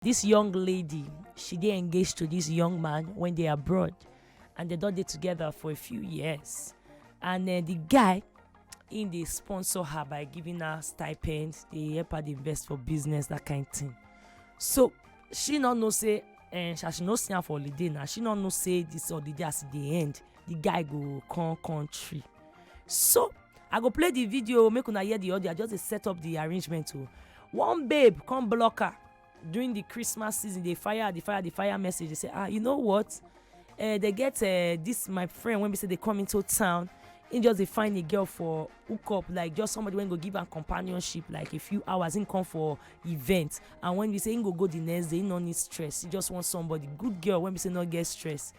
Dis young lady, she dey engaged to dis young man wey dey abroad and dem don dey together for a few years and um the guy im dey sponsor her by giving her stipend, dey help her dey invest for business that kind thing. So she no know say um as she no see am for holiday now, she no know say dis holiday as e dey end the guy go come country. So I go play the video make una hear the audio. I just dey set up the arrangement o. One babe come block her during the Christmas season. Dey fire her, dey fire her, dey fire her message. Dey say, ah, you know what? Uh, they get uh, this my friend when we say they come into town. He just dey find a girl for hookup, like just somebody when go give am companionship, like a few hours. He come for event, and when we say he go go the next day, he no need stress. He just want somebody, good girl. When we say no get stress,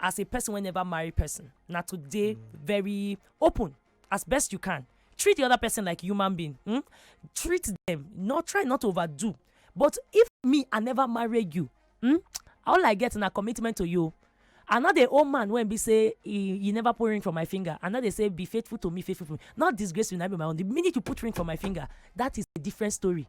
as a person wey never marry person na to dey mm. very open as best you can treat the other person like human being hmm? treat them not try not to overdo but if me i never marry you hmm? all i get na commitment to you i no dey owe man wey be say he he never put ring for my finger i no dey say be faithful to me faithful to me not disgrace you na be my own the minute you put ring for my finger that is a different story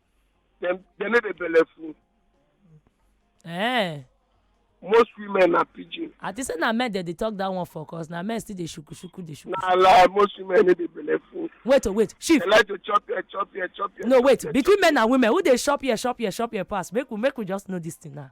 dem dem no dey belleful Eh, most women na pidgin I think say na men dem dey talk that one for cause na men still dey shuku shuku dey shuku. na lie most women no dey belleful Wait oh wait, chief. dem like to chop here chop here chop here. No chop wait, here, between men and women, who dey shop here, shop here, shop here pass? Make we make we just know this thing now.